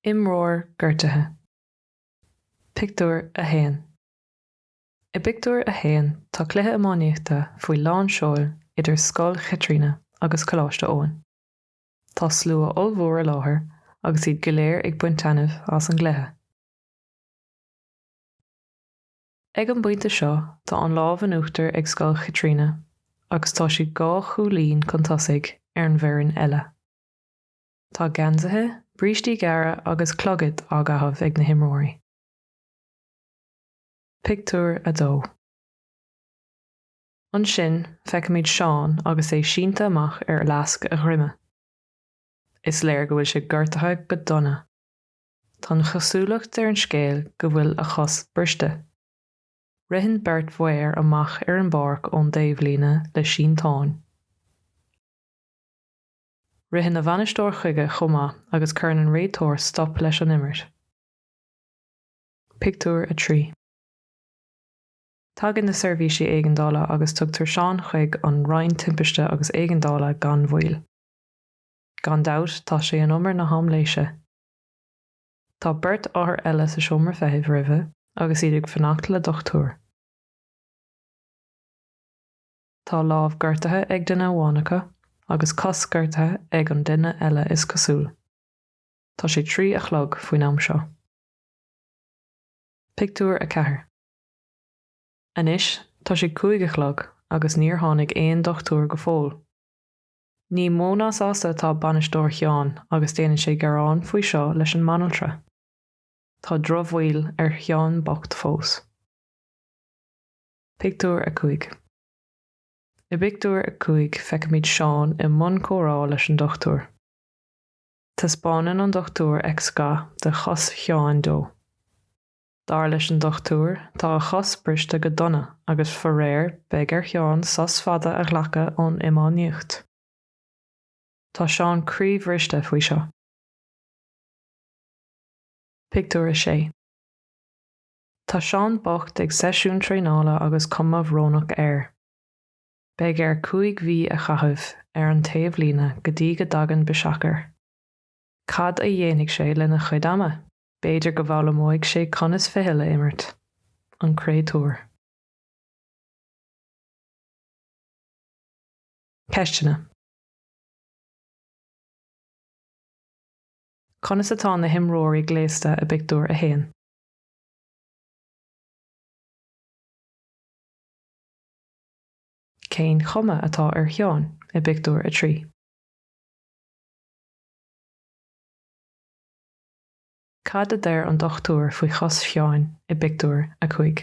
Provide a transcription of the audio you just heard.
Imreoir gortaithe. Pictiúr 1 I bpictiúr a haon tá cluiche iománaíochta faoi lán seoil idir Scoil Chaitríona agus Coláiste Eoin. Tá slua ollmhór i láthair agus iad go léir ag baint taitneamh as an gcluiche. Ag an bpointe seo tá an lámh in uachtar ag scoil Chaitríona agus tá siad dhá chúilín chun tosaigh ar an bhfoireann eile. Tá geansaithe, brístí gearra agus clogaid á gcaitheamh ag na himreoirí. Pictiúr 2 Ansin feicimid Seán agus é sínte amach ar fhleasc a dhroime. Is léir go bhfuil sé gortaithe go dona. Tá an chosúlacht ar an scéal go bhfuil a chos briste. Ritheann beirt mhaor amach ar an bpáirc ón dtaobhlíne le sínteán. Ritheann a bhainisteoir chuige chomh maith agus cuireann an réiteoir stop leis an imirt. Pictiúr 3. Tagann na seirbhísí éigeandála agus tugtar Seán chuig an Roinn Timpiste agus Éigeandála gan mhoill. Gan dabht, tá sé in umar na haimléise. Tá beirt othar eile sa seomra feithimh roimhe agus iad ag fanacht le dochtúir. Tá lámh gortaithe ag duine amháin acu agus cos gortaithe ag an duine eile is cosúil. Tá sé trí a chlog faoin am seo. Pictiúr 4 Anois tá sé cúig a chlog agus níor tháinig aon dochtúir go fóill. Ní mó ná sásta atá bainisteoir Sheáin agus déanann sé gearán faoi seo leis an mbanaltra. Tá drochbhail ar Sheán bocht fós. Pictiúr 5 I bpictiúr a cúig feicimid Seán i mbun comhrá leis an dochtúir. Taispeánann an dochtúir x-gha de chos Sheáin dó. Dar leis an Dochtúir, tá a chos briste go dona agus faraor beidh ar Sheán sos fada a ghlacadh ón iománaíocht. Tá Seán croíbhriste faoi seo. Pictiúr 6 Tá Seán bocht ag seisiún traenála agus cuma bhrónach air. Beidh air cúig mhí a chaitheamh ar an taobhlíne go dtí go dtagann biseach air. Cad a dhéanfaidh sé lena chuid ama? B'fhéidir go bhfoghlaimeoidh sé conas ficheall a imirt, an créatúr. Ceisteanna. Conas atá na himreoirí gléasta i bpictiúr a haon? Cén chuma atá ar Sheán i bpictiúr a trí? Cad a deir an dochtúir faoi chos Sheáin i bpictiúr a cúig?